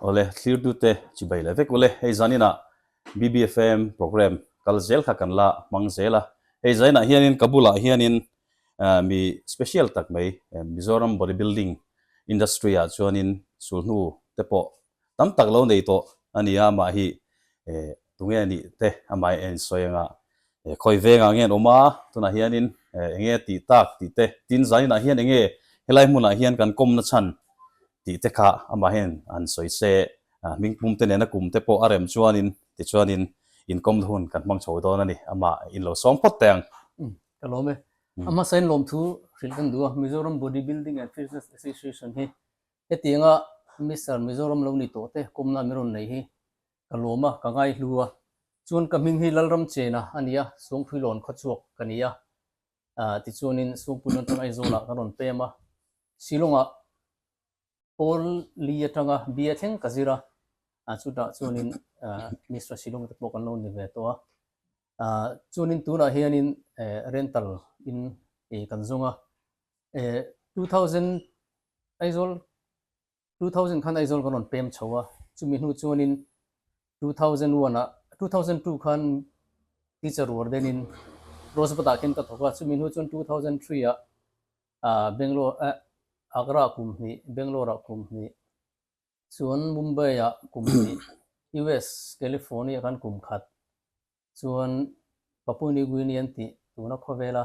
Awle, thlirtute chi bai leh vek ule, hei zaninah BBFM programme kal zel kha kan la hmang zel a, hei zainah hianin ka bulah hianin mi special tak mai Mizoram body building industry ah chuanin sulhnu te pawh tam tak lo nei tawh a nia mah hi Tunge anih te amah en sawi anga e khawi vengah nge an awm a, tunah hianin enge a tih tak tih te, tin zainah hian enge helai hmunah hian kan kawmna chhan tih te kha amah hian an sawi se. Hming pumte nena kum te pawh a rem chuanin tichuanin inkawmna hun kan hmang chho dawn a ni, amah in lo sawng phawt teh ang. Ka lawm e. A hmasain lawm thu hrilh kan duh a, Mizoram Body Building and Fitness Association hi hetianga Mister Mizoram lo ni tawh te kawmna an rawn nei hi Ka lawm a, ka ngai hlu a, chuan ka hming hi Lalramchena a ni a, Sawngpuilawn khaw chhuak ka ni a, ah tichuanin Sawngpuiin atang Aizawlah ka rawn pem a, Shillongah Paul Lee atanga bia thleng ka zir a, ah chutah chuanin Mister Shillong te pawh kan lo ni ve tawh a, ah chuanin tunah hianin rental in kan zawng a, eh two thousand Aizawl Two thousand khan Aizawl kan rawn pem chho a, chumi hnu chuanin two thousand one ah, two thousand two khan teacher ruar denin Rosebudah khin ka thawk a, chumi hnu chuan two thousand three ah Bangalore ah Agra ah kum hnih, Bangalore ah kum hnih, chuan Mumbai ah kum hnih, US California ah khan kum khat, chuan Papua New Guinea an tih tuna khawvel a,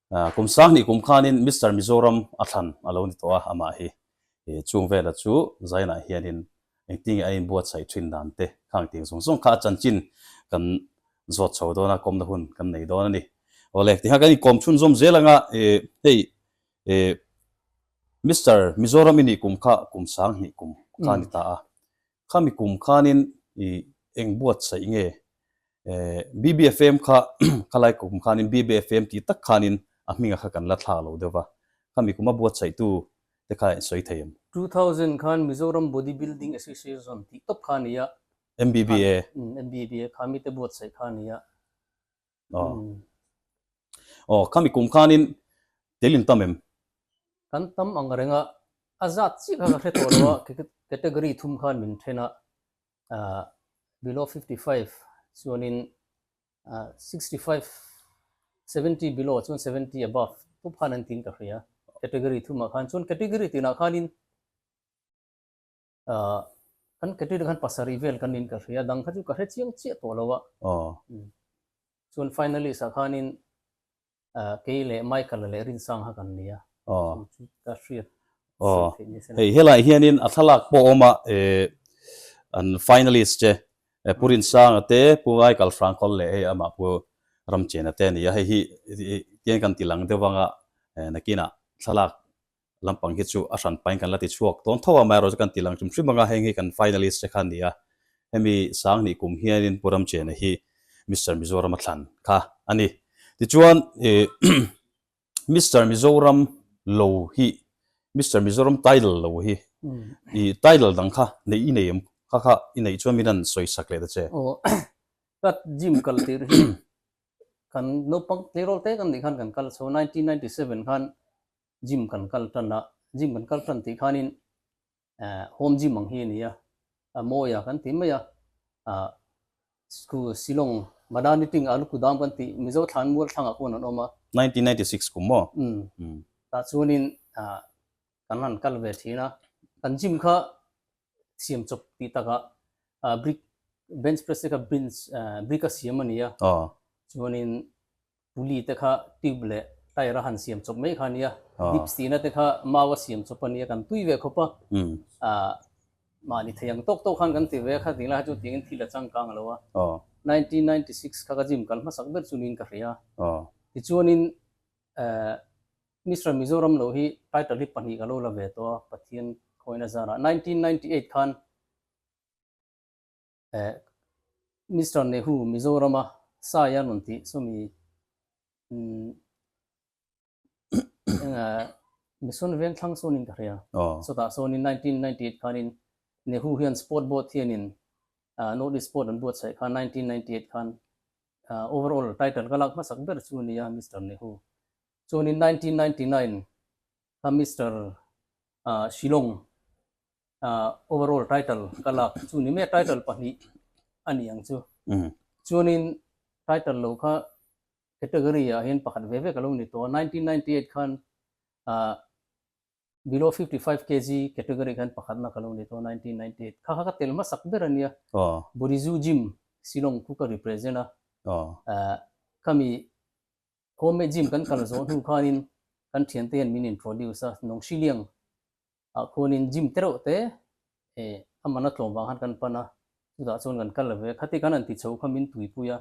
Kum sang hnih kum khanin Mister Mizoram a thlan a lo ni tawh a, amah hi i chung vela chu zainah hianin engtinge a inbuatsaih thin dan te khang tih zawng zawng kha a chanchin kan zawt chho dawn a, kawmna hun kan nei dawn a ni. Awle, tiha kan inkawm chhun zawm zel anga hei Mister Mizoram i nih kum kha kum sang hnih kum kha a ni ta a, Khami kum khanin i eng buatsaih nge? Eeh, BBFM kha khalai kum khanin BBFM tih tak khanin a hminga kha kan la thlak lo deuh a, khami kuma buatsaihtu te kha en sawi thei em? Two thousand khan Mizoram Body Building Association tih tawp kha a ni a. MBBA. Khami, MBBA, khami te buatsaih kha a ni a. Aw. Aw, khami kum khanin tel in tam em? Kan tam ang reng a. A zat chiah kha ka hre tawh lo a, category thum khan min then a. Ahh, below fifty five chuanin ahh sixty five, seventy below chuan seventy above te khan an ti in ka hre a. Category thumah khan. Chuan category tinah khanin. Ahh kan ketite khan pasarih vel kan in ka hria, dang kha chu ka hre chiang chiah tawh lo a. Aww. Umm. Chuan finalist ah khanin ahh kei leh Michael leh Rinsang kha kan nia. Aww. Chu chu ka hriat sir theih ni se lo. Aww. Hei helaiah hianin a thlalak pawh a awm a, ehh an finalist che Pu Rinsang a te, Pu Michael Hrangkawl leh hei amah Pu Ramchena te a ni a, hei hi tiang kan ti lang deuh vang a, ehh nakinah thlalak Lampang hi chu a hran pain kan la ti chhuak dawn tho a, Myro chu kan tih lang hrim hrim ang a, heng hi kan finalist che kha a ni a, hemi Sanghnih kum hianin Pu Ramchena hi Mister Mizoram a thlan kha a ni. Tichuan Mister Mizoram lo hi, Mister Mizoram title lo hi, i title dang kha neih i nei em? Kha kha i neih chuan min han sawi sak leh ta che. Aw, ka gym kal tir hi kan naupang tleirawl te kan nih khan kan kal a chho a, nineteen ninety seven khan gym kan kal tan a, gym kan kal tan tih khanin eh home gym ang hi a ni a, a mawi a kan tih mai a, ah school Shillong Madaniting Alukudam kan tih Mizo thlan mual thlangah pawn an awm a. Nineteen ninety six kum maw? Umm tah chuanin ah kan han kal ve thin a, kan gym kha siam chawp tih takah ah brick bench press te kha bench eh brick a siam a ni a, chuanin Puli te kha tube leh tyre a han siam chawp mai kha a nia, dips tihna te kha mau a siam chawp a nia, kan tui ve khawp a, ah mahni thei ang tawk tawk khan kan ti ve a, kha ding lai kha chu tiang in thil a changkang a lo a, nineteen ninety six kha ka gym kal hmasak ber chu niin ka hria a, tichuanin eh Mister Mizoram lo hi title hi pahnih ka lo la ve tawh a, Pathian khawina zarah, nineteen ninety eight khan. Mister Nehu Mizorama sai a rawn tih saw mi Mission Vengthlang sawnin ka hria. Chutah sawn in nineteen ninety eight khan in Nehu hian sport board hian in North East sport an buat chhaih khan nineteen ninety eight khan overall title ka lak hmasak ber chu a ni a Mister Nehu. Chuan in nineteen ninety nine kha Mister Shillong Overall title ka lak chu chu ni maia title pahnih a ni ang chu. Chuanin title lo kha category ah hian pakhat ve vek a lo ni tawh a, nineteen ninety eight khan below fifty five kg category khan pakhat nak a lo ni tawh a, nineteen ninety eight kha kha ka tel hmasak ber a nia. Borizu gym Shillong chu ka represent a, khami home made gym kan kal zawh hnu khanin kan thiante hian min introduce a, Nongshiliang A khunin gym te reuh te e amana tlawm vang khan kan pan a, chutah chuan kan kal ve. Khati kan han ti chho kha min tuipui a,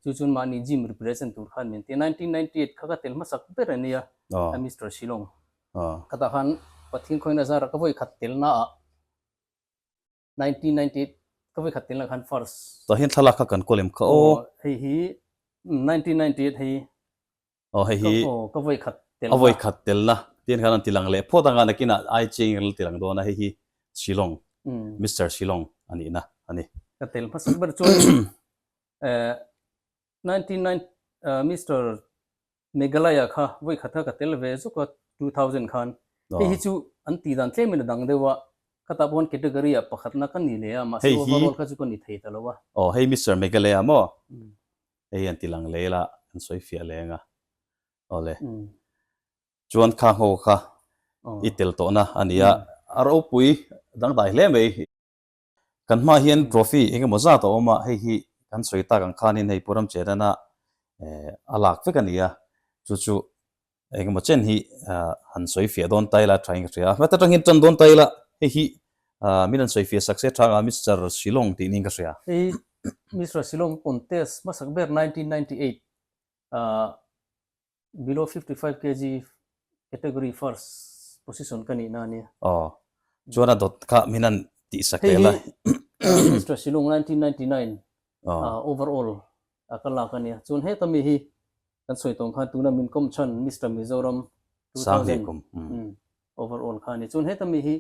chu chuan mahni gym represent tur khan min ti a, nineteen ninety eight kha ka tel hmasak ber a nia a Mister Shillong. Khata khan Pathian khawina zara ka vawi khat telnaah nineteen ninety eight ka ve khat tel na khan first tah hian thlalak kha kan kawl em kha aw hei hi nineteen ninety eight hei aw hei hi aw ka ve khat tel a ve khat tel na tin khan an ti lang leh phawt anga nakin ai chi engin ral ti lang dawn a hei hi shillong Mister shillong ani na ani ka tel hmasak ber chuan eh Ninety nine Mister Meghalaya kha vawikhatah ka tel ve zuk a, two thousand khan hei hi chu an tih dan tlem in a dang deuh a, khatah pawh khan category ah pakhatna ka ni leh a, mahse overall kha chu ka ni thei ta lo a. Aw hei Mister Meghalaya maw? Hei an ti lang leh ila, an sawi fiah leng a, awle chuan kha ho kha i tel tawhna a nia, a ropui dangdai hle mai. Kan hmaah hian trophy engemaw zat a awm a, hei hi kan sawi tak ang khanin hei Puram Chenana a lak vek a ni a, chu chu engemaw chen hi han sawi fiah dawn ta ila tha inghria a. Hmata tangin tan dawn ta ila hei hi min an sawi fiah sak se thang a, Mister Shillong tiin inka hria. Hei hi Mister Shillong contest hmasak ber nineteen ninety eight ah Below fifty five kg category first position ka nihna ania. Aw. Chuan a dawt kha min han tih sa kel a. Hei hi Mister Silung nineteen ninety nine overall a ka lak ania. Chuan heta mi hi kan sawi tawng khan tuna min kawm chhan Mister Mizoram two thousand overall kha ania. Chuan heta mi hi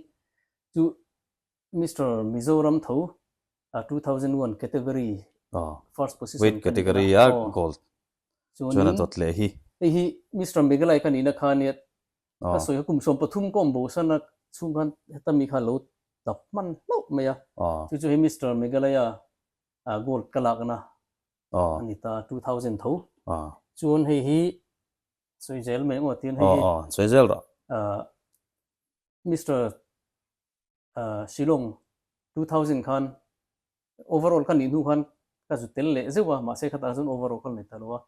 chu Mister Mizoram tho a two thousand one category first position weight category a gold chuan a dawt leh hi. Hei hi Mister Meghalai ka nihna khan nia ka sawi a kum sawm pathum combotion a chhung khan heta mi khan lo tap hman hlauh mai a chu chu hei Mister Meghalai a gold ka lakna a ni ta two thousand tho chuan hei hi sawi zel mai emaw tiin hei hi sawi zel rawh. Mister Shillong two thousand khan overall ka nih hnu khan ka zut tel leh zeuh a, mahse khatah chuan overall ka la ni ta lo a,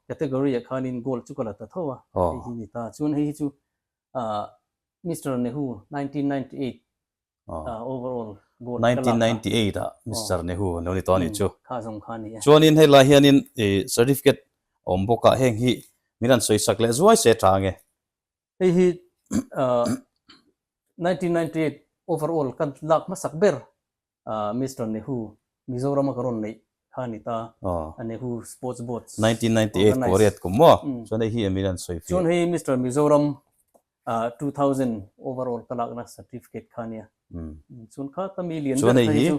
category ah khanin gold chu ka la ta tho a, hei hi a ni ta. Chuan hei hi chu Mister Nehu nineteen ninety eight overall gold ka lak a. Nineteen ninety eight ah Mister Nehu a lo ni ta a nih chu. Kha zawng kha a ni a. Chuanin hei lai hianin certificate a awm bawk a, heng hi min rawn sawisak leh zuai se a tang e. Hei hi nineteen ninety eight overall ka lak hmasak ber Mister Nehu Mizoram a ka rawn neih kha a ni ta, a Nehu Sports Board nineteen ninety eight pawh a riat kum maw? Chuan hei hi a min rawn sawi fih. Chuan hei Mister Mizoram two thousand overall ka lakna certificate kha a nia. Chuan khata mi lian ber kha hi chu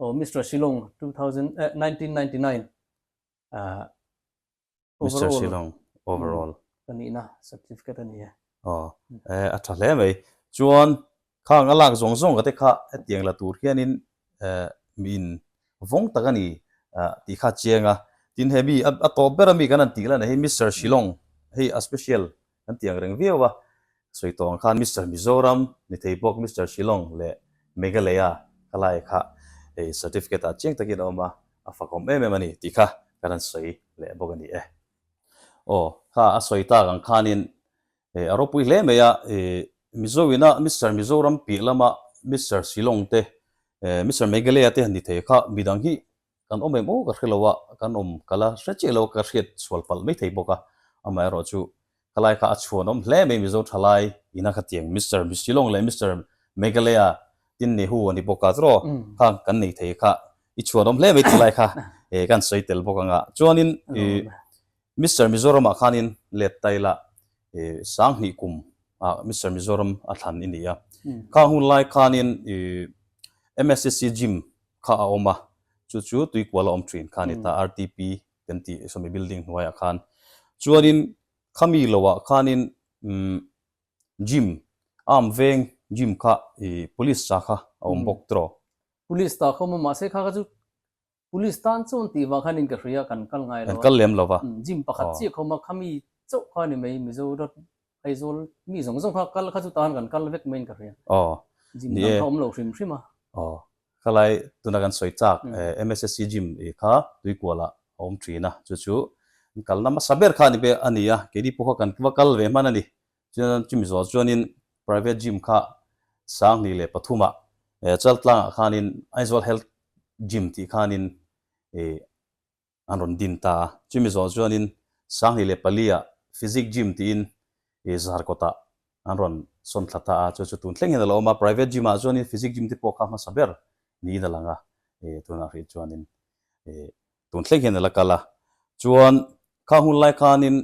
aw Mister Shillong two thousand nineteen ninety nine Mister Silawng, overall. Ka nihna certificate a ni e. Aw, e, a tha hle mai. Chuan, khang a lak zawng zawng ka te kha hetiang la tur hianin, e, miin vawng tak a ni, a tih kha a chiang a. Tin he mi a tawp ber a mi kan han tih la nei hi Mister Silawng hei a special Kan ti ang reng viau a, sawi tawng khan Mister Mizoram, ni thei bawk Mister Shillong leh Meghalaya kha lai kha hei certificate ah chiang takin a awm a, a fakawm em em a ni tih kha ka rawn sawi leh bawk a ni e. Aw, kha a sawi tak ang khanin hei a ropui hle mai a, Mizoin a Mister Mizoram piah lama Mister Shillong te, Mister Meghalaya te ni thei kha midang hi Kan awm em aw ka hre lo a, kan awm kal a hre chiah lo ka hriat sual palh mai thei bawk a, amaherawh chu ka lai kha a chhuan awm hle mai Mizo thalai ina kha tiang Mister Shillong leh Mister Meghalaya tin ni hu a ni bawk a draw kha kan nei thei kha i chhuan awm hle mai thalai kha kan sawi tel bawk ang a chuanin i Mister Mizoram ah khanin let tai lah i sanghnih kum ah Mister Mizoram a thlan i nia. Kha hun lai khanin i MSCC gym kha a awm a, chu chu tuikual a awm thin kha a ni ta, RTP kan ti sawmi building hnuai ah khan. Chuanin khami lo ah khanin umm gym arm veng gym kha i police cha kha a awm bawk draw. Police ta kha a awm a mahse kha kha chu Police tan chuan tih vang hianin ka hria a, kan kal ngai lo a. Kan kal lem lo va. Gym pakhat chiah kho ma, khami chauh kha ni mai, Mizo rat Aizawl mi zawng zawng kha kal kha chu tan kan kal vek maiin ka hria. Aw. Gym dang kha awm lo hrim hrim a. Aw. Khalai tuna kan sawi chak MSSC gym i kha Tuikuala a awm thin a, chu chu an kalna hmasa ber kha a ni a, keini pawh kha kan va kal ve hman a ni. Chuan an chim zual chuanin private gym kha sanghnih leh pathumah Chaltlangah khanin Aizawl Health Gym tih khanin an rawn din ta a. Chumi zual chuanin sanghnih leh paliah Physic Gym tiin zar kawtah an rawn sawn thla ta a. Chu chu tun thlengin a lo awm a. Private gym-ah chuanin Physic Gym te pawh kha hmasa ber niin a lang a. Tunah hrih chuanin tun thlengin a la kal a. Chuan khang hun lai khanin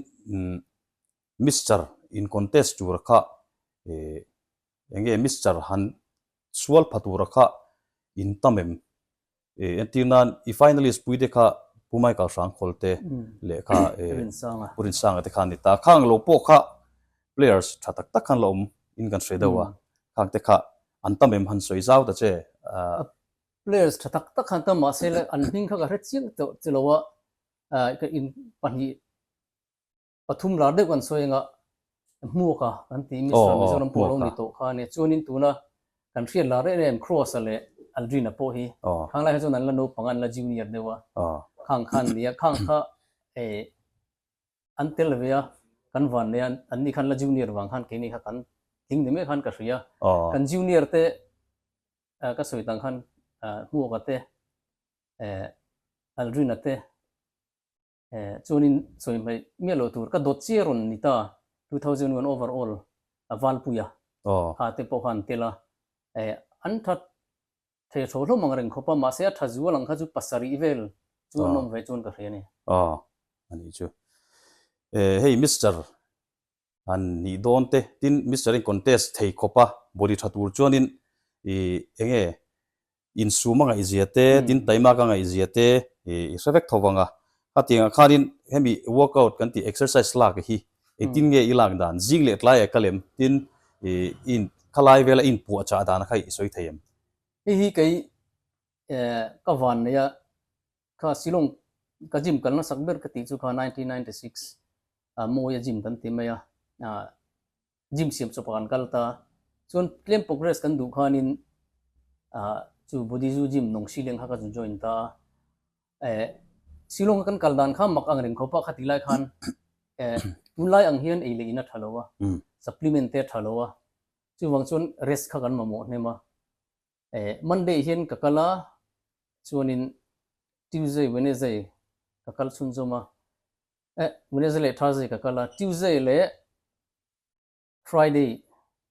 Mister in contest tura kha eh eng nge Mister han sual pha tura kha in tam em eh entir nan i finalist pui te kha Pu Michael Hrangkhawl te leh kha eh Pu Rinsanga te kha an ni ta. Khang lo pawh kha players tha tak tak khan la awm in kan hre deuh a, khang te kha an tam em han sawi zau ta che ah. Players tha tak tak khan an tam mahse an hming kha ka hre chiang tawh che lo a, ah ka in pahnih. pathum lar deuh kan sawi anga hmuak a kan tih mi sir Mizoram pawh lo ni tawh kha nia chuanin tuna kan hriat lar reh reh em Cross a leh Aldrin a pawh hi khang lai kha chuan an la naupanga an la junior deuh a khang khan ni a khang kha eh an tel ve a kan van nei a an ni khan la junior vang khan keini kha kan tling ni mek khan ka hria kan junior te ka sawi dan khan hmuak a te eh Aldrin a te. Chuanin chawihmeh miah loh tur ka dawt chiar rawn ni ta, two thousand one over all a valpuia tha te pawh khan tel a, an tha thei tho hlawm ang a reng khawp a, mahse a tha zu a lang kha chu pasarih vel chu an awm ve chuan ka hria nia. Aw, a nih chu. Hei Mister han nih dawn te, tin Mister in contest thei khawp a, bawlhli tha tur chuanin ih eng nge insum a ngaihzia te, tin time a ka ngaihzia te i hre vek tho vang a, hetiangah khanin hemi workout kan tih exercise lak hi engtin nge i lak dan, zing leh tlai a ka lem, tin ih in khalai vel a in puah chah dan kha i sawi thei em? Hei hi kei eh ka van neih a, Kha silawng ka gym kal nasak ber ka tih chu kha nineteen ninety six a mawia gym kan ti mai a gym siam chawpa kan kal ta chuan tlem progress kan duh khanin chu Budizu gym Nong Shileng kha ka zu join ta a silawng kan kal dan kha mak ang reng khawpa kha ti lai khan tunlai ang hian ei leh in a tha lo a supplement te a tha lo a chuvang chuan rest kha kan mamawh hnem a Eh, Monday hian ka kal a, chuanin Tuesday, Wednesday ka kal chhunzawm a. Eh, Wednesday leh Thursday ka kal a, Tuesday leh Friday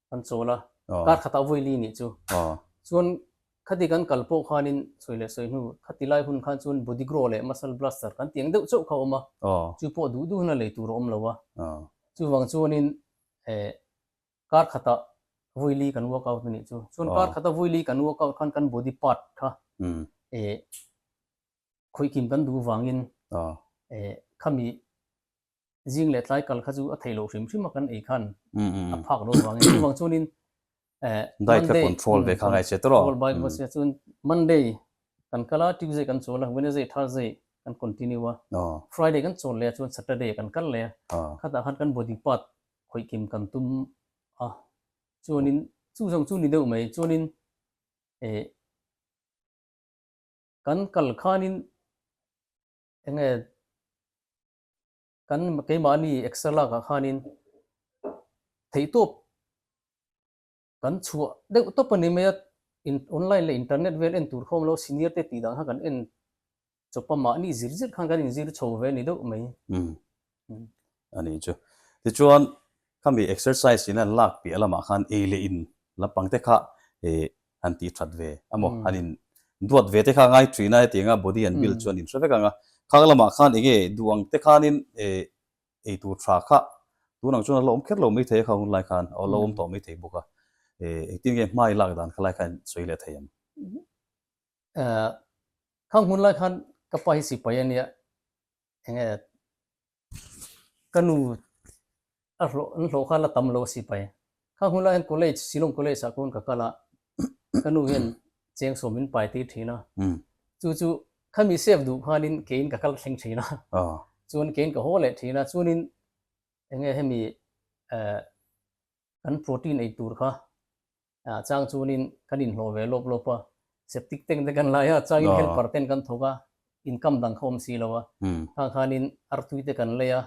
kan chawl a, kar khatah vawiili nih chu. Chuan khati kan kal pawh khanin sawi leh sawi hnu, khati lai hun khan chuan Bodigrow leh Muscle Blaster kan ti ang deuh chauh kha a awm a, chu pawh duh duh hna lei tur a awm lo a. Chuvang chuanin eh, kar khata vuili kan work out a nih chu chuan kar khata vuili kan work out khan kan body part kha eh khawih kim kan duh vangin eh khami zing leh tlai kal kha chu a theihloh hrim hrim a kan ei khan a phak loh vangin chuvang chuanin eh diet kha control ve kha ngai che tawh lo control ve se chuan monday kan kal a tuesday kan chawl a wednesday thursday kan continue a friday kan chawl leh a chuan saturday kan kal leh a khatah khan kan body part Hawikim kan tum a, chuanin chu zawng chu ni deuh mai, chuanin eh kan kal khanin enge kan keimahni extra lakah khanin theihtawp Kan chhuah deuh tawp a ni mai a, in online leh internet vel en tur khawm lo, senior te tih dan khan kan en chawp a, mahni zir zir khan kan inzir chho ve a ni deuh mai. Umm, a nih chu. Tichuan khami exercise in an lak piah lamah khan ei leh in lampang te kha eh han tih that ve a maw, han in duat ve te kha a ngai thin a, hetianga body an build chu an in hre vek ang a, khang lamah khan eng nge duh ang te khanin eh ei tur tha kha tun ang chuan a hlawm kher lo mai thei a kha hun lai khan a hlawm tawh mai thei bawk a, engtin nge hmai lak dan kha lai khan sawi leh thei ang. Kha hun lai khan ka pa hi sipai a nia enge ka nu a hlawh an hlawh khan a tam lo a sipai. Kha hunlai hian college, Shillong College ah kawn ka kal a, ka nu hian cheng sawm min pai tir thin a, chu chu kha mi safe duh khanin keiin ka kal thleng thin a, chuan keiin ka haw leh thin a, chuanin enge hemi eh kan protein ei tur kha a chang chuanin kan in hlawh ve lawp lawp a, septic tank te kan lai a, changin helper ten kan thawk a, income dang kha awm si lo a, khang khanin artui te kan lei a,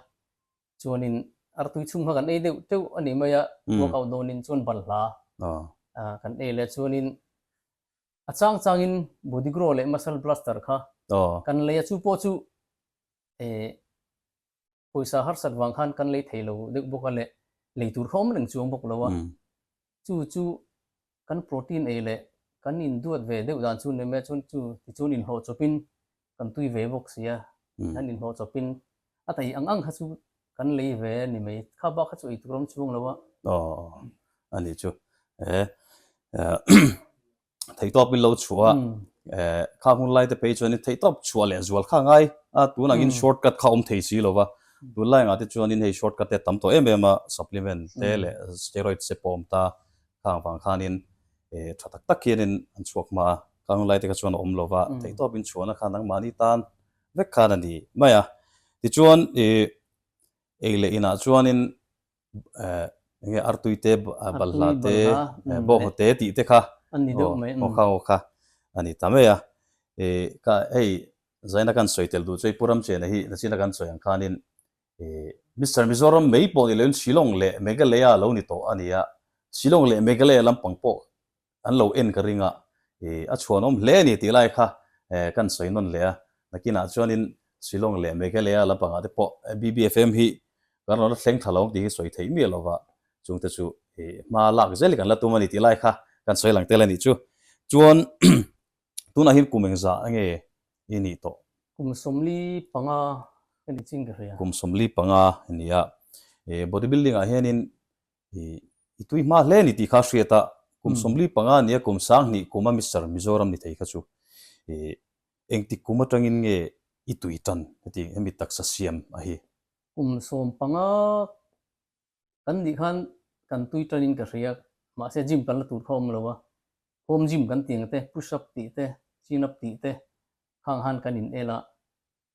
Chuanin artui chhung kha kan ei deuh teuh a nih mai a, uakau dawnin chuan bal hla kan ei leh. Chuanin a chang changin Bodigro leh Muscle Blaster kha kan lei a, chu pawh chu pawisa harsat vang khan kan lei thei lo deuh bawk a leh, lei tur kha awm reng chuang bawk lo a. Chu chu kan protein ei leh kan induat ve deuh dan chu ni mai a, chuan chu tichuan inhlawhchawpin kan tui ve bawk si a, tihian inhlawhchawpin a taih ang ang kha chu kan lei ve a ni mai. Kha bak kha chu ei tur a awm chhung lo a. Aw, a ni chu. Ee, thei tawp in lo chua a hmm. eh, kha hun lai te pei chuan in thei tawp chua leh zual kha ngai a tun ang in hmm. shortcut kha om thei si lova hmm. tun lai nga te chuan in hei shortcut te tam to em em a supplement te leh steroid se pawm ta kha ang vang khan in eh, tha tak tak hian in an chuak ma kha hun lai te kha chuan om lova thei tawp in chuan a khan ang mani tan vek khan ani mai a ti chuan eh, ei leh inah chuan in enge artui te balhla te bawnghaw te tih te kha aw kha aw kha a ni ta mai a, ka hei zaina kan sawi tel duh chu hei Pu Ramchhiana hi nachina kan sawi ang khanin Mister Mizoram mai pawh ni loin Shillong leh Meghalaya lo ni tawh a ni a, Shillong leh Meghalaya lampang pawh An lo en ka ring a, i, a chhuanawm hle a ni tih lai kha ka han sawi nawn leh a, nakinah chuanin Shillong leh Meghalaya lampangah te pawh BBFM hi kan rawn la thleng tha lo ang tih hi sawi theih miah lova, chungte chu i, hma lak zel hi kan la tum a ni tih lai kha ka han sawi lang tel a nih chu. Chuan tunah hin kum engzah nge i nih tawh? Kum sawmli panga ka ni ching ka hria. Kum sawmli panga i nia, i, bodybuilding-ah hianin I i tui hma hle ni tih kha hriat a, kum sawmli panga nia kum sang hnih kuma Mister Mizoram ni thei kha chu i engtik kum atangin nge i tui tan heti hemi taksa siam a hi. Kum sawm panga kan nih khan kan tui tanin ka hria, mahse gym kan la tur kha awm lo a, home gym kan ti ang te, push up tih te, chin up tih te khang han kan in el a,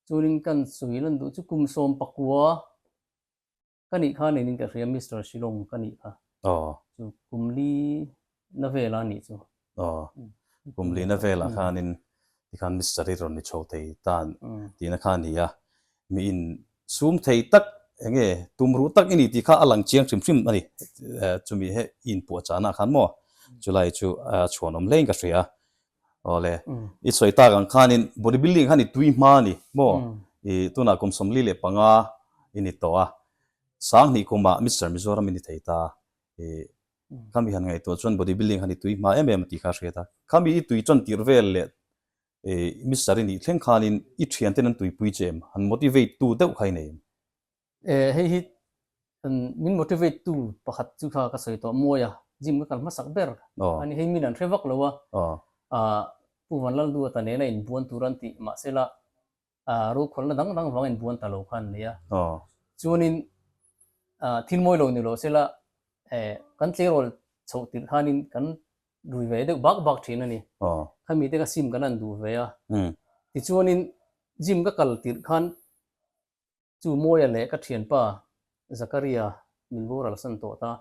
chunin kan sui lan duh chu kum sawm pakua Ka nih kha nining ka hria Mister Shilawm ka nih kha. Aw. Chu Kumli na vel a nih chu. Aw. Kumli na vel ah khanin tikhan Mister hi rawn ni chho thei tan tihna kha a ni a. Mi in sum thei tak eng nge tum ruh tak i ni tih kha a lang chiang hrim hrim a ni. Chumi he i inpuah chahna ah khan maw chulai chu a chhuanawm hlein ka hria. Awle, i sawi tak ang khanin bodybuilding khan i tui hma a ni maw? I tunah kum sawmli leh panga i ni tawh a, sang hnih kumah Mister Mizoram i ni thei ta. I khami han ngaihtuah chuan bodybuilding khan i tui hma em em a tih kha a hriat a. Khami i tui tan tirh vel leh i Mister i nih thleng khanin i thianten an tuipui che em? Han motivate tu deuh kha i nei em? E hei hi min motivate tu pakhat chu kha ka sawi tawh mawi a gym ka kal hmasak ber a ni hei min an hre vak lo a a pu vanlaldu a ta nen a inbuan tur an tih mah sela a rokhawlna dang dang vang inbuan ta lo kha an nei a chuanin a thil mawi lo ni lo sela e kan tlerol chhoh tirh khanin kan rui ve deuh bak bak thin a ni khami te ka sim kan han duh ve a tichuanin gym ka kal tirh khan Chu Mawia leh ka thianpa Zakaria min boralsan tawh ta.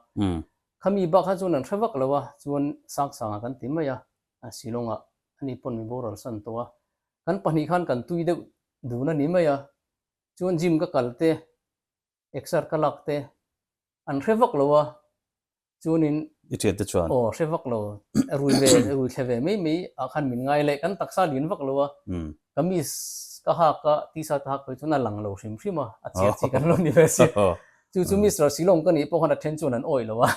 Khami bak kha chuan an hre vak lo a, chuan saksanga kan ti mai a, Shillongah a ni pawn min boralsan tawh a. Kan pahnih khan kan tui deuh dun a ni mai a, chuan gym ka kal te, exer ka lak te, an hre vak lo a, chuanin i thian te chuan aw hre vak lo a rui ve a rui thla ve mai mai ah khan min ngai leh kan taksa lian vak lo a kamis ka hak a t-shirt ka hak pawh hi chuan a lang lo hrim hrim a a chhiat chi ka lo ni ve a si chu chu Mister Silawm ka nih pawh khan a then chuan an awih lo a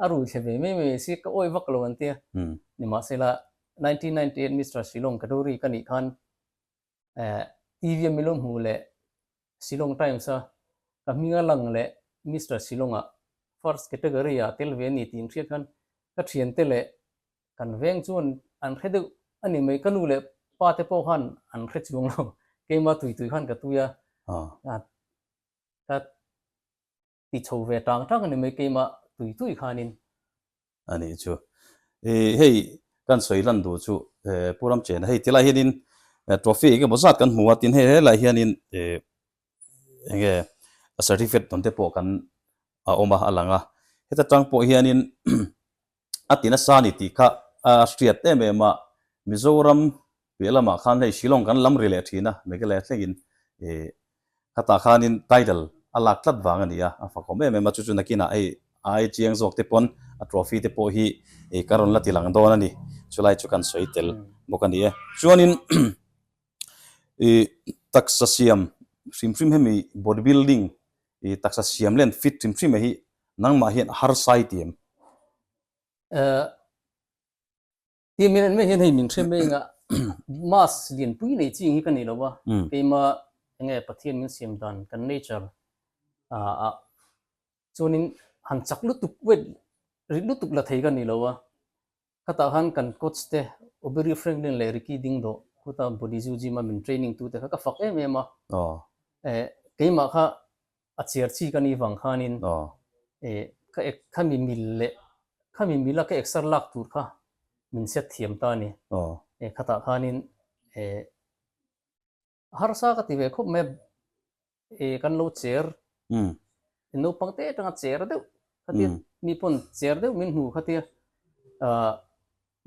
a rui thla ve mai mai a si ka awih vak lo an tia nimahsela nineteen ninety eight Mister Silawm Kaduri ka nih khan TV a milawm hmuh leh Shillong Times a ka hming a lang leh Mister Shillong a first category ah tel ve a ni tih an hriat khan ka thiante leh kan veng chuan an hre deuh a ni mai. Ka nu leh pa te pawh khan an hre chuang lo, keima tui tui khan ka tui a ka ti chho ve tang tang a ni mai keima tui tui khanin. A nih chu. I hei kan sawi hlan duh chu Pu Ramchhena hei ti lai hianin trophy eng emaw zat kan hmu a tin hei helai hianin eng nge certificate dawnte pawh kan a awm a a lang a heta tang pawh hianin a ti nasa a ni tih kha a hriat em em a, Mizoram piah lamah khan hei Shillong kan lam ri leh thin a, Meghalaya thlengin e khatah khanin title a lak tlat vang a ni a, a fakawm em em a, chu chu nakinah hei a ai chiang zawk te pawn a trophy te pawh hi e ka rawn la ti lang dawn a ni, chulai chu kan sawi tel bawk a ni e. Chuanin taksa siam hrim hrim hemi body building taksa siam len fit hrim hrim hi nangmah hian har sai ti em ti min en me hian hei min hrem me nga mas lian pui nei chi ngi ka ni lo wa keima enge pathian min siam dan kan nature a chuanin han chak lutuk wet ri lutuk la thei ka ni lo wa Khatah khan kan coach te Obiri Franklin leh Ricky Ding Daw khuta body zoo gym a min training tu te kha ka fak em em a, eh keimah kha a chhiar chi ka nih vang khan in eh ka ek kha mi mil leh kha mi mil a ka eksar lak tur kha min hriat thiam ta a ni, eh khatah khan in eh. Harsa ka ti ve khawp mai a, e kan lo cher in naupang te atanga cher deuh kha tia mi pawn cher deuh min hmu kha tia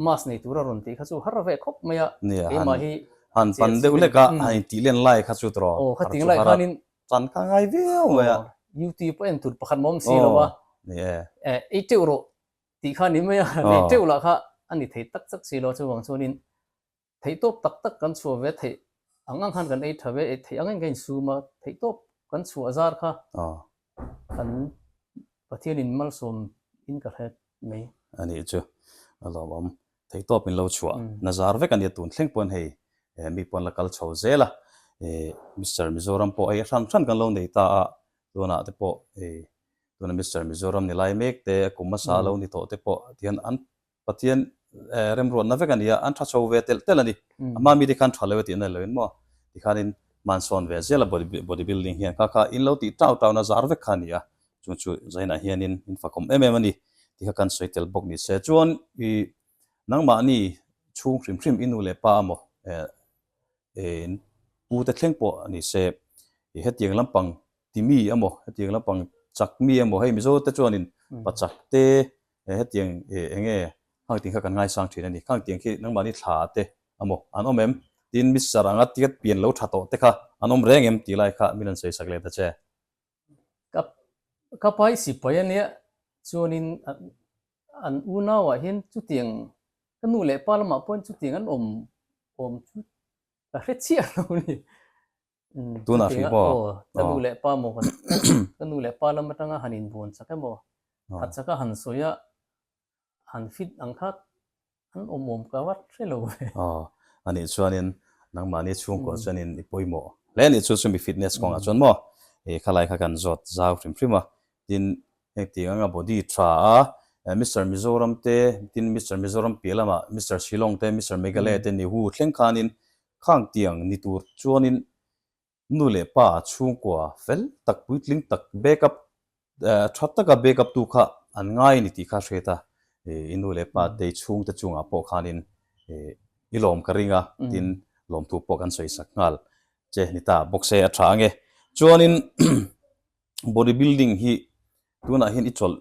mask nei tura rawn tih kha chu har ve khawp mai a, keimah hi han pan deuh hlek a, han in tih len lai kha chu tawrh a, aw khating lai khan in chan kha ngai viau mai a, U tih pawh en tur pakhat mawm si lo a, e ei teuh rawh tih kha ni mai a, nei teuh lah kha a ni thei tak tak si lo a, chuvang chuan in theihtawp tak tak kan chhuah ve theih ang ang khan kan ei tha ve, ei theih ang ang kha insum a, theihtawp kan chhuah zar kha kan Pathian in malsawm in ka hre mai. A nih chu, a lawm awm, theihtawp in lo chhuah na zar vek a nia tun thleng pawn hei mi pawn la kal chho zel a, Mister Mizoram pawh hei a hran hran kan lo nei ta a, tunah te pawh hei tuna Mister Mizoram ni lai mek te, a kum a sa lo ni tawh te pawh tihian an Pathian remruatna vek a nia, an tha cho ve telh telh a ni. A hmaa mite khan tha lo e tih na lo in maw? Tikhanin hmansawn ve zel a bodybuilding hian kha kha in lo tih tau tau na zar vek kha a ni a, chung chu zainah hianin min fakawm em em a ni tih kha kan sawi tel bawk ni se. Chuan i nangmahni chhung hrim hrim i nu leh pa emaw e in pu te thleng pawh a ni se, i hetiang lampang Timi emaw, hetiang lampang Chakmi emaw hei mizo te chuanin Pachak te, e hetiang e enge khang ting kha kan ngaisang thin a ni, khang tiang khi nangmahni thla te amaw an awm em? tiin Mister anga ticket pian lo tha tawh te kha an awm reng em tih lai kha min rawn seisak leh ta che. Ka ka pai sipai a nia, chuanin an unauah hian chutiang ka nu leh pa lamah pawhin chutiang an awm awm chu ka hre chiah lo a ni. Tun ah hri pawh. Ka nu leh pa maw han ka nu leh pa lam atanga han in buan chak em aw? Khat chak a han sawi a, han fit ang kha an awm awm ka vat hre lo e. Aw, a nih chuan in nangmahni chhungkua chuan in i pawimawh hle a nih chu chumi fitness kawngah chuan maw e khalai kha kan zawt zau hrim hrim a tin heng tiang anga body tha a Mister Mizoram te tin Mister Mizoram piah lamah Mister Shillong te Mister Meghalaya te ni hu thleng khan in Khang tiang ni tur chuanin nu leh pa chhungkua fel tak puitling tak back up tha taka back up tu kha an ngai a ni tih kha hriat a, i nu leh pa te i chhung te chungah pawh khanin i lawm ka ring a tin lawmthu pawh kan sawi sak nghal. Che ni ta box e a tha ange. Chuanin body building hi tunah hian i chawlh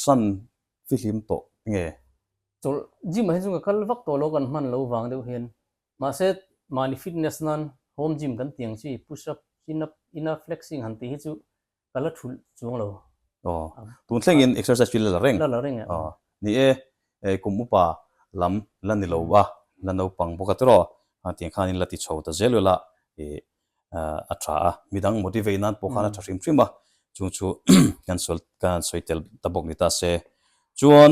san fihlim tawh nge? Chawlh gym ah hi chunga kal vak tawh lo kan hman lo vang deuh hian Mahse, mahni fitness nan home gym kan tiang chi, push up, chin up, in a flexing han tih hi chu ka la thulh chuang lo. Aw, tun thlengin exercise hi la la reng? La la reng a. Ni e, e kum upa lam la ni lo a, la naupang bawk a tiraw? Tiang khanin la ti chho ta zel vel a, e a tha a, midang motivate nan pawh khan a tha hrim hrim a, chung chu kan sawi tel ta bawk ni ta se. Chuan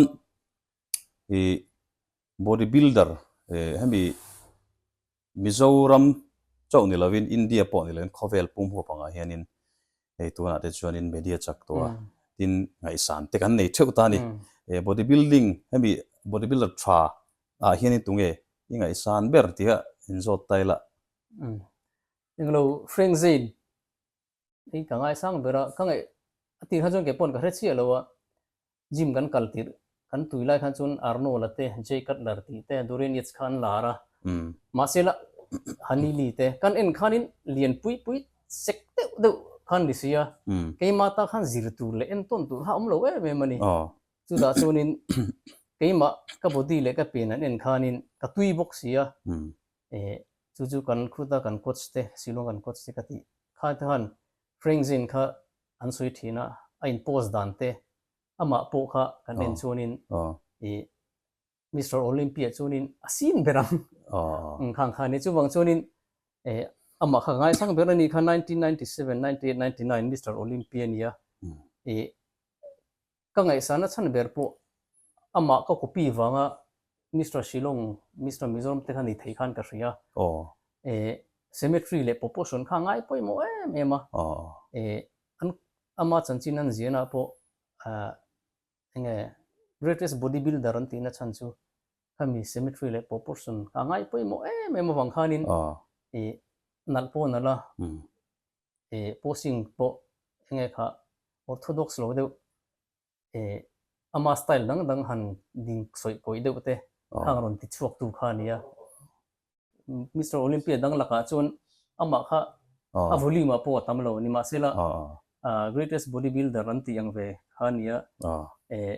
ih body builder eh hemi Mizoram chauh ni lovin India pawh ni lovin khawvel pum huap angah hianin hei tunah te chuanin media chak tawha tin ngaihsan te kan nei theuh ta a ni. Eh body building hemi body builder tha ah hianin tunge i ngaihsan ber tih a in zawt ta ila? Englo Hrengzein Hei ka ngai sang ber a, ka ngaih a tih khan chuan kei pawn ka hre chiah lo a, gym kan kal tirh kan tui lai khan chuan Arnola te, Jay Cutler tih te, Dorian Yates kha an la ar a, mahse la Honey Lee te kan en khanin lian pui pui sek deuh deuh kha an ni si a, keimah ta khan zir tur leh en tawn tur kha a awm lo em em a ni, chutah chuanin keimah ka body leh ka pen an en khanin ka tui bawk si a, E, chu chu kan khuta kan coach te, silawng kan coach te ka tih kha te khan Frank Zin kha an sawi thin a, a in post dan te amah pawh kha kan en chuan in e Mister Olympia chuan in a sin ber ang khang khan e chuvang chuan in e amah kha ka ngai sang ber a ni kha nineteen ninety seven, ninety eight, ninety nine Mister Olympia a nia e ka ngaihsana chhan ber pawh amah ka copy vanga Mister Shillong, Mister Mizoram te kha ni thei khan ka hria. Aww. Symmetry leh proportion kha a ngai pawimawh em em a. Aww. An ama chanchin an ziahna pawh enge greatest bodybuilder an tihna chhan chu khami symmetry leh proportion kha a ngai pawimawh em em avang khanin nalh pawh a nalh a. eh, posing pawh enge kha orthodox lo deuh, eh, ama style dang dang han ding sawi pawih deuh te kha ang rawn ti chhuak tu kha a ni a. Mister Olympia dang lakah chuan amah kha a volume a pawh a tam lo, nimahsela ah, greatest bodybuilder an tih ang ve kha a ni a, eh,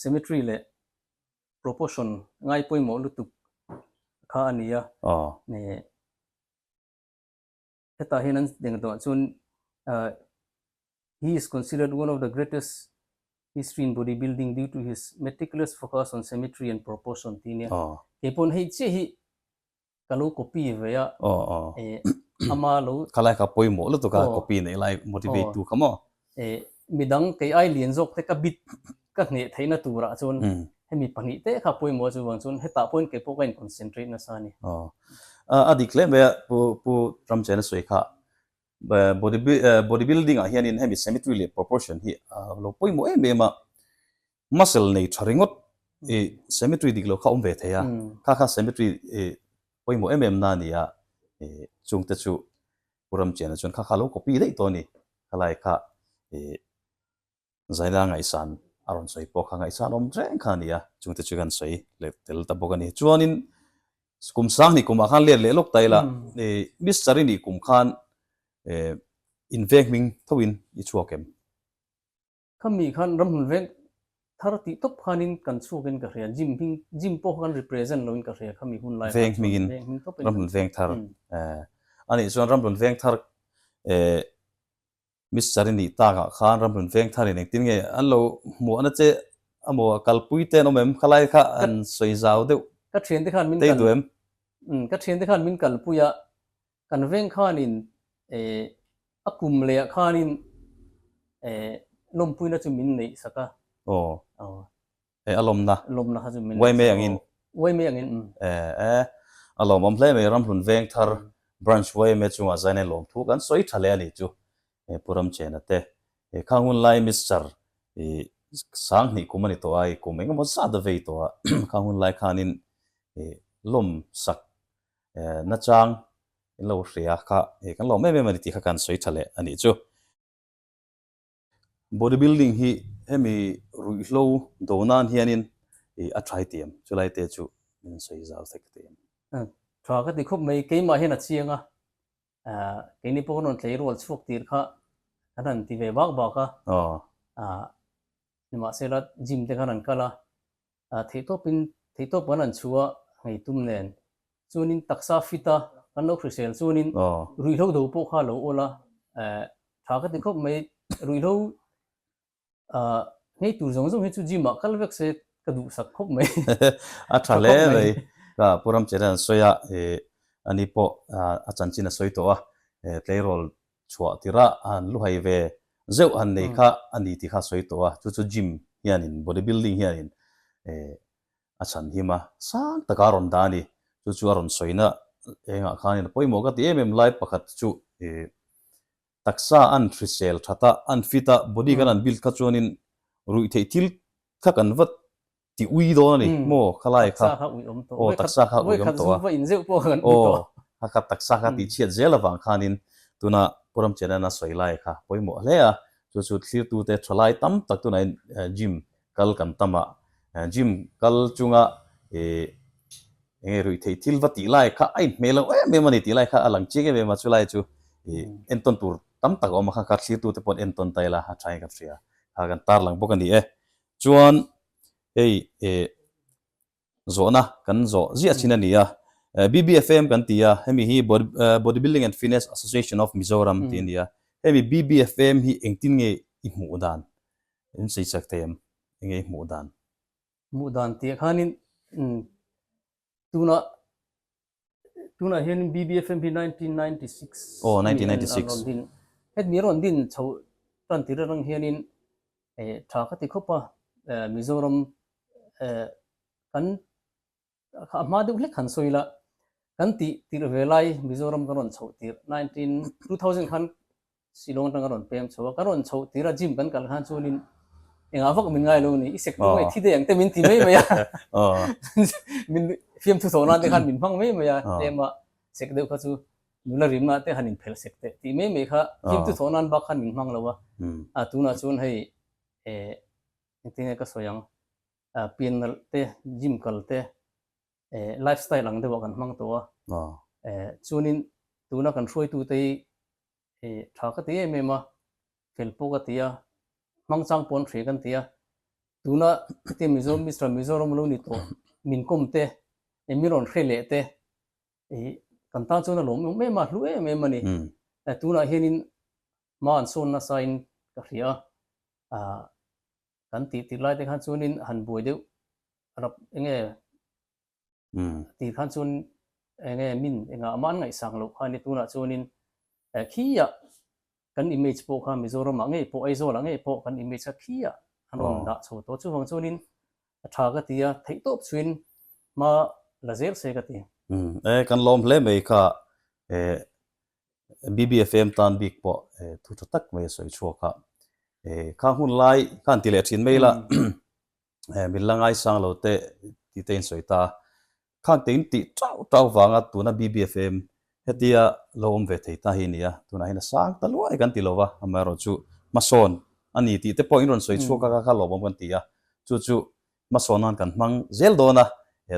symmetry leh proportion ngai pawimawh lutuk kha a ni a, eh. hetah hian an deng tawh chuan He is considered one of the greatest history in body building due to his meticulous focus on symmetry and proportion tih ania. Kei pawh hei chiah hi ka lo copy ve a, e ama lo. Khalai kha pawimawh lutuk a copy neih lai motivate tu kha maw? Eh, midang kei ai lian zawk te ka bit ka hneh theih na tur ah chuan hemi pahnih te kha pawimawh chu vang chuan hetah pawhin kei pawh ka in concentrate nasa a ni. Aw, a a dik hle mai a pu pu Ramchhena sawi kha body body building ah hian in hemi symmetry leh proportion hi a lo pawimawh em em a muscle nei tha ringawt i cemetery dik lo kha awm ve thei a kha kha cemetery i pawimawh em em na nia i chungte chu Pu Ramchiana chuan kha kha lo copy daih tawh a ni khalai kha i Zaila ngaihsan a rawn sawi pawh kha ngaihsan awm reng kha a nia chungte chu kan sawi leh tel ta bawk a ni chuanin kum sang ni kumah khan let leh lawk ta ila i Miss Chari nih kum khan i invek hming thoin i chhuak em. Khami khan ram hun veng thar tih tawp khanin kan chhuakin ka hria, gym hming, gym pawh kan represent loin ka hria, khami hun lai khan chuan veng hming tawpin kan hria. Ram hun veng thar, a nih chuan ram hun veng thar Miss Chari nih takah khan ram hun veng tharin engtin nge an lo hmuh ana che, a maw a kalpui te an awm em, khalai kha an sawi zau deuh, ka thiante khan min kal, tei duh em? Ka thiante khan min kalpui a, Kan veng khanin eh a kum lehah khanin eh lawmpuina chu min neih sak a. Aw. Aw. Eh a lawmna. Lawmna kha chu min neih sak a. Uai mai angin. Uai mai angin, um. Eh eh. A lawm awm hle mai. Ramhlun Vengthar Branch Uaime chungah zaina in lawmthu kan sawi tha leh a nih chu. Eh Pu Ramchhena te. Eh kha hunlai Mister i sang hnih kum a ni tawh a, i kum engemaw zat a vei tawh a. Kha hunlai khanin eh lawm sak Nachang, in lo hria kha he kan lawm em em a ni tih kha kan sawi tha leh a nih chu. Body building hi hemi ruihhlo do nan hianin a try tih em? Chulai te chu min sawi zau thek tih em? Tha ka ti khawp mai, keimah hian a chiang a, keini pawh ka rawn tleirual chhuak tir kha kan rawn ti ve bak bak a, nimahsela gym te kan rawn kal a, a theihtawpin theihtawp kan rawn chhu a, ngei tum nen. Chuanin taksa fit a, kan lo hrisel chuanin ruihhlo do pawh kha a lo awl a, eh, tha ka ti khawp mai, ruihhlo ngei tur zawng zawng hi chu gym ah kal vek se ka duhsak khawp mai. A tha hle mai, ka Pu Ramchel hian a sawi a, eh, ani pawh a chanchin a sawi tawh a, eh, tleirawl Chhuah tirah han lu hai ve zeuh han nei kha a ni tih kha a sawi tawh a, chu chu gym hianin body building hianin a chhanhim a, sang taka a rawn dah a ni. Chu chu a rawn sawina engah khanin a pawimawh ka ti em em lai pakhat chu taksa an hrisel that a, an fit a, body kan han build kha chuanin ruih theih thil kha kan va ti ui dawn a ni maw khalai kha taksa kha ui awm tawh aw taksa kha ui awm tawh a in zeuh pawh kan ui tawh a khat taksa kha ti chhiat zel avang khanin tuna Puramchhiat nana sawi lai kha pawimawh hle a chu chu thlir tu te tha lai tam tak tunah in gym kal kan tam a gym kal chunga eng nge ruih thei thil va tih lai kha a in hmel ang em em a ni tih lai kha a lang chiang em em a chu lai chu en tawn tur tam tak a awm a kha kha thlir tu te pawh an en tawn ta ila a tha in kan hria kha kan tarlang bawk a ni e. Chuan hei eh zawhna kan zawh ziah chin a nia, BBFAM kan ti a, hemi hi Bodybuilding and Fitness Association of Mizoram tih a ni a, hemi BBFAM hi engtin nge i hmuh dan? Min sawi chek thei em, enge i hmuh dan? Hmuh dan tih ah khanin tunah Tunah hian BBFM hi nineteen ninety six Aw, nineteen ninety six. Rawn din. Hemi rawn din chho tan tih reng reng hianin tha ka ti khawp a, Mizoram kan a hma deuh hlek han sawi la, kan tih tirh ve lai Mizoram kan rawn chho tirh nineteen two thousand khan Silawng atanga rawn pem chho a, ka rawn chhoh tira gym kan kal khan chuan in engah vak min ngailo ni, i sek dik mai, thi dei ang te min ti mai mai a, min fiam thu thawh nan te khan min hmang mai mai a, tlema sek deuh kha chu nula rimna te han in phelh sek teh tih mai mai kha fiam thu thawh nan bak khan min hmang lo a, a tunah chuan hei engtin nge ka sawi ang, pianalh te, gym kal te, eh, life style ang deuhah kan hmang tawh a, eh, chuanin tuna kan hruaitute hi eh, tha ka ti em em a, fel pawh ka ti a, hmang chang pawh an hre kan ti a, tuna hetiang Mizoram Mister Mizoram lo ni tawh min kawm te, eh, min rawn hre leh te eh, kan tan chuan a lawm em em a, a hlu em em a ni, eh, tunah hianin hma an sawn nasa in ka hria a, ah, kan tih tir lai te khan chuanin han buai deuh rap enge ti khan chuan enge min engah ama an ngaihsang loh kha a ni tunah chuanin khia kan image pawh kha Mizoramah ngei pawh Aizawlah ngei pawh kan image kha khia an rawn dah chho tawh chuvang chuanin a tha ka ti a theih tawp chuin hma la zel se ka ti. E kan lawm hle mai kha e BBFM tan bik pawh thu tha tak mai a sawi chhuak a, kha hmun lai kha an ti leh thin mai la, min la ngaisang lo teh tite in sawi ta a, khan kei in tih tau tau vanga tuna BBFM hetia lo awm ve thei ta hi a ni a, tunahin a sang ta luai kan ti lo a, amaherawh chu hmasawn a ni tih te pawh in rawn sawi chhuak a, kha kha lawmawm kan ti a, chu chu hmasawn a kan hmang zel dawn a,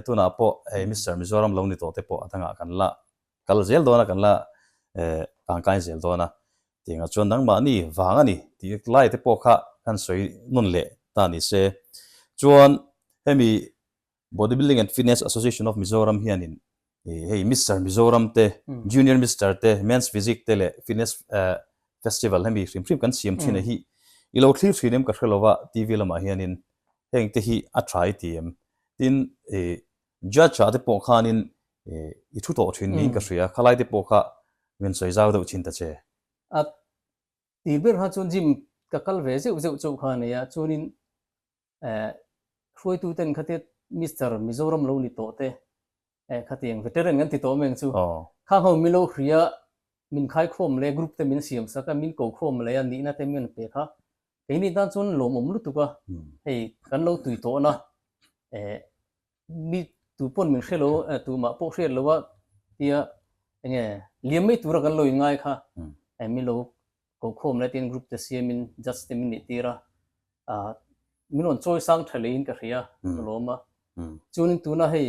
tunah pawh Mister Mizoram lo ni tawh te pawh a dangah kan la. Kal zel dawn a kan la eh tangkain zel dawn a tiangah chuan nangmah ni vang a ni tih lai te pawh kha khan sawi nun leh ta ni se. Chuan hemi Bodybuilding and Fitness Association of Mizoram hianin hei Mister Mizoram te, Junior Mister te, Men's Physique te leh Fitness eh Festival hemi hrim hrim kan siam thin a hi i lo thlir thin em ka hre lo va TV lamah hianin heng te hi a tha i ti em tin eh Judge ah te pawh khanin i thu tawh thin niin ka hria a, khalai te pawh kha min sawi zau deuh thin ta che. A ti ber kha chuan Jim ka kal ve zeuh zeuh chauh kha a nei a, chuanin hruaitu ten kha te Mister Mizoram lo ni tawh te khati ang, Veteran kan ti tawh meng chu khang ho min lo hria, min khai khawm le, group te min siam sak a, min ko khawm leh a, nihna te min pek a, Keini tan chuan lawmawm lutuk a, hei kan lo tui tawh na eh mi tu pawn min hrelo eh tu mah pawh hriat loh a tia eng nge liam mai tura kan lo inngai kha eh min lo kohkhawm lai tiin group te siam in judge te min nih tir a ah min rawn chawi sang tha leh in ka hria ka lawm a chuan in tuna hei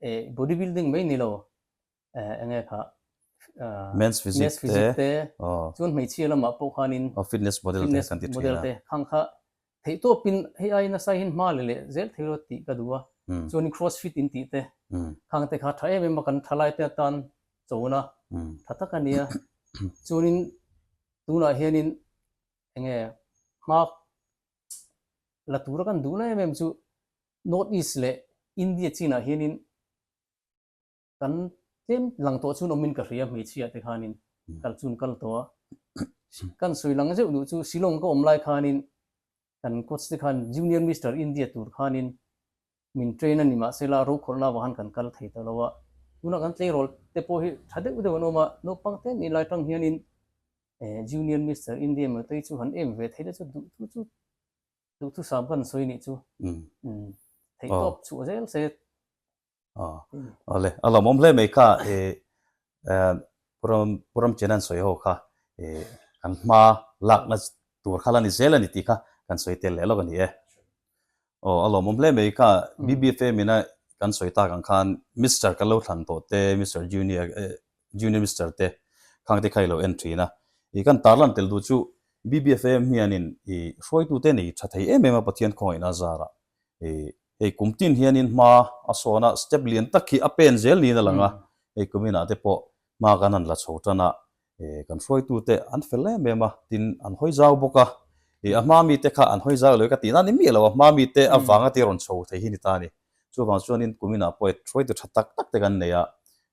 eh body building mai ni lo enge kha men's physique te chuan hmeichhia lamah pawh khanin fitness model te kan ti thin a khang kha theihtawp in hei ai nasa hian hma leh leh zel thei rawt tih ka duh a chuanin cross fit in tih te khang te kha tha em em a kan tha lai te atan chawna tha tak a nia chuanin tunah hianin enge hma la tura kan duh la em em chu north east leh india chinah hianin kan tlem lang tawh chuan awmin ka hria hmeichhia te khanin kal chuan kal tawh a kan sawi lang zeuh duh chu Shillong ka awm lai khanin kan coach te khan junior Mister India tur khanin min train a ni mah se la rokhawlna vang han kan kal thei ta lo a tunah kan tleirawl te pawh hi tha deuh deuh an awm a naupang te nih lai tang hianin eh junior Mister India mah te chu han em ve thei le chu duh thu chu duh thusam kan sawi nih chu theih tawp chhuah zel se Aw le, a lawmawm hle mai kha e, Puramchina an sawi ho kha e, kan hma lakna tur kha la ni zel a ni tih kha kan sawi tel leh lawk a ni e. Aw, a lawmawm hle mai kha, BBFM ina kan sawi tak ang khan Mister kan lo thlan tawh te, Mister Junior, Junior Mister te khang te kha i lo en thin a. I kan tarlan tel duh chu BBFM hianin i hruaitute nei tha thei em em a Pathian khawngaihna zarah. hei kum tin hian in hma a sawn a, step lian tak khi a pen zel niin a lang a, hei kum inah te pawh hma kan han la chho tan a, kan hruaitu te an fel em em a, tin an hawi zau bawk a, a hma mi te kha an hawi zau lo ka tih nan in miah lo, a hma mi te avang a tih rawn chho thei hi ni ta a ni, chuvang chuan in kum inah pawh hruaitu tha tak tak te kan nei a,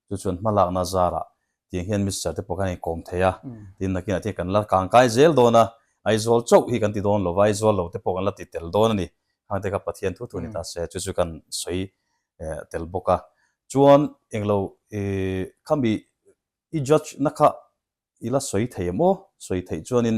chu chuan hma lakna zarah Tiang hian Mister te pawh khan in kawm thei a, tin nakin a thei kan la kang kai zel dawn a, Aizawl chauh hi kan ti dawn lo va, Aizawl lo te pawh kan la ti tel dawn a ni. Hang te kha Pathian thu thu ni ta se, chu chu kan sawi tel bawk a. Chuan englo khami i judge na kha i la sawi thei maw? Sawi theih chuan in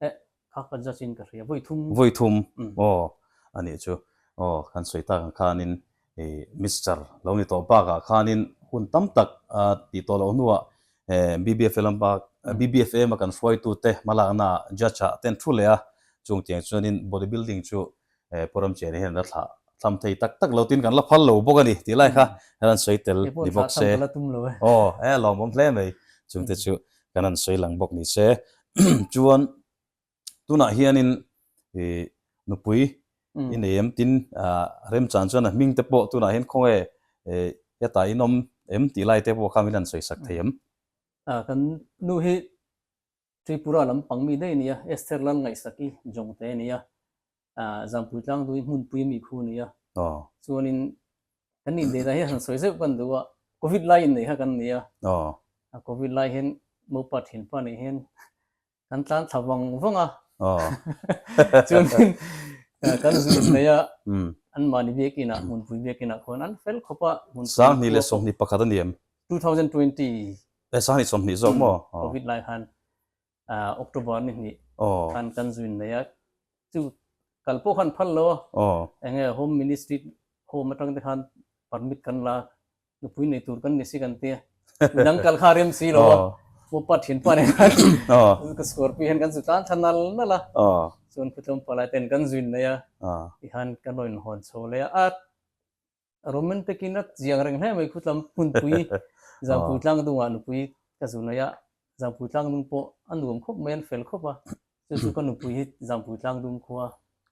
Eh, kha ka judge in ka hria. Vawi thum. Vawi thum. Aw, a nih chu. Aw, kan sawi tak ang khanin i Mister lo ni tawh bakah khanin hun tam tak a tih tawh loh hnuah BBFLM bak, BBFM a kan hruaitute hmalaknaah judge-a a ten thu leh a. Chungtiang chuanin bodybuilding chu eh program chiahna hian ala thlah thlam thei tak tak lo tin kan la phal lo bawk a ni tih lai kha kan han sawi tel ni bawk se aw eh a lawmawm hle mai chung te chu kan han sawi lang bawk ni se chuan tunah hianin eh nupui i nei em tin remchan chuan a hming te pawh tunah hian khawnge eh hetah in awm em tih lai te pawh kha min han sawi sak thei em. Kan nu hi Tripura lampang mi daih nia, Esther Lalngaihsaki Jongte nia, Zangpui Tlangdui hmunpui mi khu nia. Chuanin kan nih date ah hian han sawi zeuh kan duh a, Covid lai innei kha kan nia. A Covid lai hian mopa thinpa nih hian kan tlan thla vang vang a. Chuanin kan zui hnei a, anmahni biakinah, hmunpui biakinah khuan an fel khawp a. Sanghni leh sawmhni pakhat a ni em? 2020 e sani sawmhnih zawk maw covid lai khan october ni hnih khan kan zuin mai a chu kal pawh khan phal lo eng nge home ministry home atang te khan permit kan la nupui nei tur kan ni si kan ti a midang kal kha rem si lo a mu pa thin pa nen khan ka score pi hian kan zu tlan tha nal nal a chuan khutlawm palai ten kan zuin mai a i khan ka rawn hawn chho leh a Roman takin a chiang reng hle mai khutlam hmunpui zangpui tlang dungah nupui ka zu naih a, zangpui tlang dung pawh a nuam khawp mai an fel khawp a, chu chu ka nupui hi zangpui tlang dung khua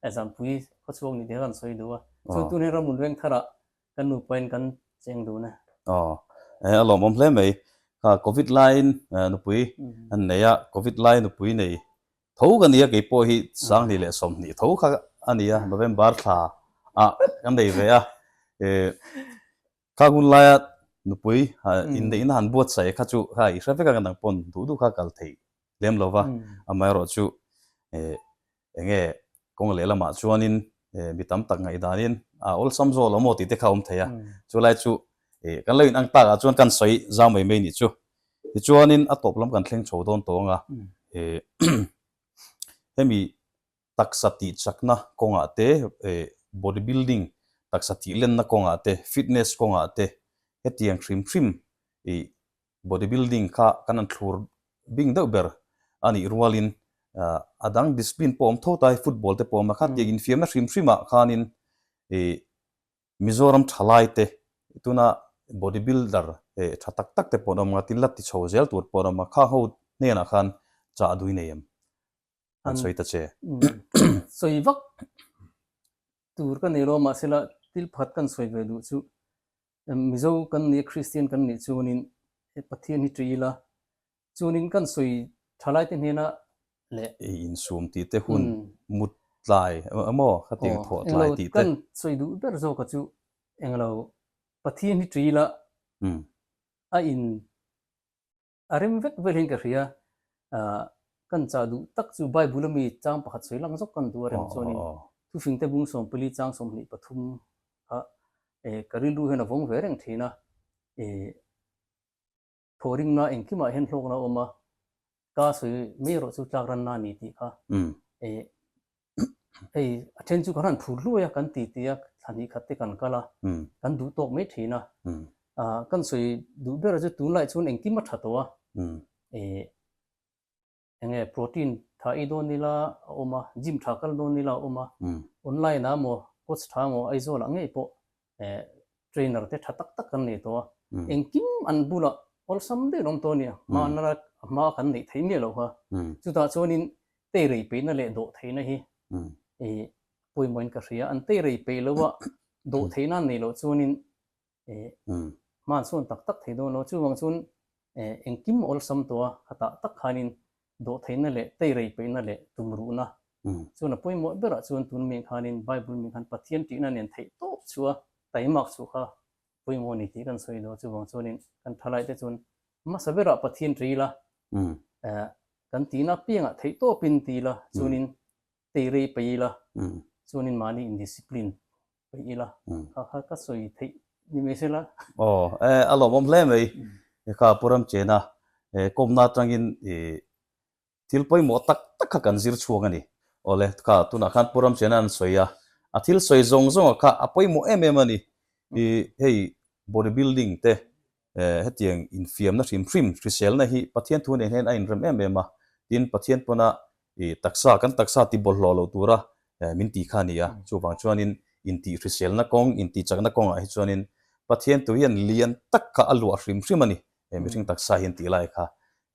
eh zangpui khaw chhuak ni tih kha kan sawi duh a, chuan tun he Ramlun veng thar ah kan nu pain kan cheng dun e. Aw eh a lawmawm hle mai, kha covid laiin nupui an nei a, covid lai nupui nei Tho ka nia kei pawh hi Sangni leh Sawmhnih tho kha a ni a, November thla ah kan nei ve a, kha hun laia nupui inneihna han buatsaih kha chu kha i hre vek ang a, nang pawn duh duh kha kal thei lem lo va, amaherawhchu enge Kawng leh lamah chuanin mi tam tak ngaihdanin a awlsam zawk lo maw tih te kha a awm thei a, chu lai chu kan lo inang takah chuan kan sawi zau mai mai nih chu. Tichuanin a tawp lam kan thleng chho dawn tawh ang a, hemi taksa tih chakna kawngah te, body building taksa tih lenna kawngah te, fitness kawngah te hetiang hrim hrim body building kha kan han thlur bing deuh ber a nih rualin a dang discipline pawh awm tho ta hi football te pawh a awm a, khar tiang infiamna hrim hrimah khanin Mizoram tha laite tuna body builder tha tak tak te pawh an awm a, tin la ti chho zel tur pawh an awm a, kha ho hnenah khan chah dui nei em? An sawi ta che. Sawi vak tur ka nei lo mahsela thil pakhat kan sawi ve duh chu Mizo kan nia, Kristian kan nih chuanin he Pathian hi ṭi ila, chuanin kan sawi ṭha laite hnena leh. Ei insum tih te, hun mut tlai emaw kha tih thawh tlai tih te. Kan sawi duh ber zawkah chu englo Pathian hi ṭi ila, a in. A rem vek vel hian ka hria, ah, kan chah duh tak chu Bible-a mi chang pakhat sawi lang zawk kan duh a rem chuanin thufingte bung sawm pali chang sawmhnih pathum a eh, ka rilru hian a vawng ve reng thin a, eh, thaw ringna engkimah hian hlawkna a awm a, ka sawi mai erawh chu tlak ranna a ni tih kha, eh, hei a then chu kan han phur hluai a kan ti ti a thla hnih khat te kan kal a kan duh tawk mai thin a kan sawi duh ber a chu tunlai chuan engkim a tha tawh a e eng nge protein tha ei dawn ila a awm a gym tha kal dawn ila a awm a online ah maw coach tha maw Aizawlah ngei pawh trainer te tha tak tak kan nei tawh a, engkim an bulah awlsam deuh lawm tawh a ni a, hma na rak a hma kan neih theih miah loh kha. Chutah chuanin tei rei peihna leh dawh theihna hi i pawimawhin ka hria, an tei rei peih loh a, dawh theih nan nei loh chuanin i hmansawn tak tak thei dawn lo, chuvang chuan engkim a awlsam tawh a, khatah tak khanin dawhtheihna leh teirei peihna leh tumruhna chuan a pawimawh berah chuan tun mian khanin Bible mian khan Pathian tihna nen theih tawp chu a taimak chu kha pawimawh a ni tih kan sawi daw. Chuvang chuanin kan thalaite chuan hmasa berah Pathian rila kan tihna apiangah theih tawpin tila chuanin tei rei paih ila, chuanin mahni indiscipline paih ila kha kha ka sawi theih ni mai se la. Aw, e, a lawmawm hle mai. He kha Pu Ramchena, he kawmna atangin i thil pawimawh tak tak kha kan zir chhuang a ni. Aw le, kha tunah khan Pu Ramchena an sawi a, a thil sawi zawng zawngah kha a pawimawh em em a ni. I hei bodybuilding te, hetiang infiamna hrim hrim hriselna hi Pathian thu nen hian a inrem em em a, tin Pathian pawna i taksa kan taksa ti bawlhhlawh lo tura min ti kha a ni a. Chuvang chuanin intih hriselna kawng, intichakna kawngah hi chuanin Pathian thu hian lian tak kha a luah hrim hrim a ni, mihring taksa hian tih lai kha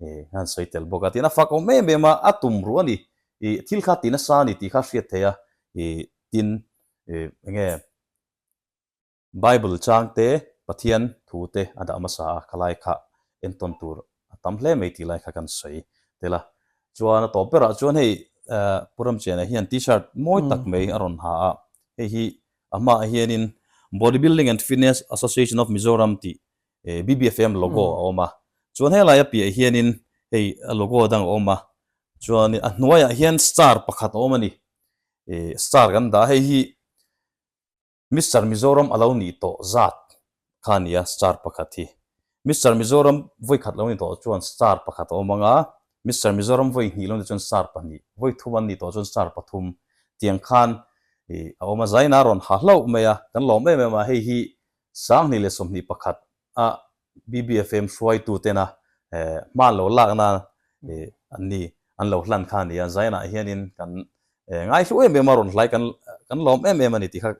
i han sawi tel bawk a, tin a fakawm em em a, a tum ruh a ni, i thil kha ti nasa a ni tih kha a hriat theih a, i tin enge Bible changte, Pathian thute a dah hmasa a, ka lai kha entawn tur a tam hle mai tih lai kha kan sawi tel a. Chuan a tawp berah chuan hei Pu Ramchiana hian T-shirt mawi tak mai a rawn ha a, hei hi a hmaah hianin Bodybuilding and Fitness Association of Mizoram tih BBFM logo a awm a, chuan helai a piahah hianin hei a logo dang a awm a, chuan a hnuaiah hian star pakhat a awm a ni, star kan dah a, hei hi Mister Mizoram a lo ni tawh zat kha a nia star pakhat hi. Mister Mizoram vawi khat lo ni tawh chuan star pakhat a awm ang a, Mister Mizoram vawi hnih lo ni chuan star pahnih, vawi thum an ni tawh chuan star pathum tiang khan a awm a. Zaina a rawn ha hlauh mai a, kan lawm em em a, hei hi sanghnih leh sawmhnih pakhat a BBFM hruaitu tena hma'n lo lak nan an ni, an lo hlan kha a ni a, Zion-ah hianin kan ngaihlu em em a, rawn hlai kan lawm em em a ni tih kha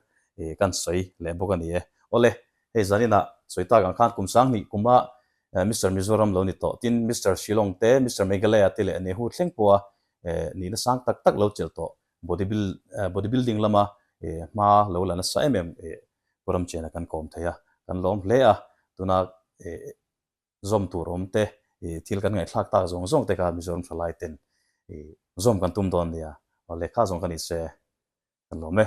kan sawi leh bawk a ni e. Awle, hei zaninah Chawita gang khan kum sang hnih kuma Mister Mizoram lo ni tawh, tin Mister Shillong te, Mister Meghalaya te leh Nehu thleng pawha nihna sang tak tak lo chelh tawh, Bodybuilding lama hma lo la nasa em em Khuram chiana kan kawm thei a, kan lawm hle a, tuna zawm tur awm te, thil kan ngaihthlak tak zawng zawng te kha Mizoram thalai ten zawm kan tum dawn nia, aw lehkha zawng ka nih se kan lawm e.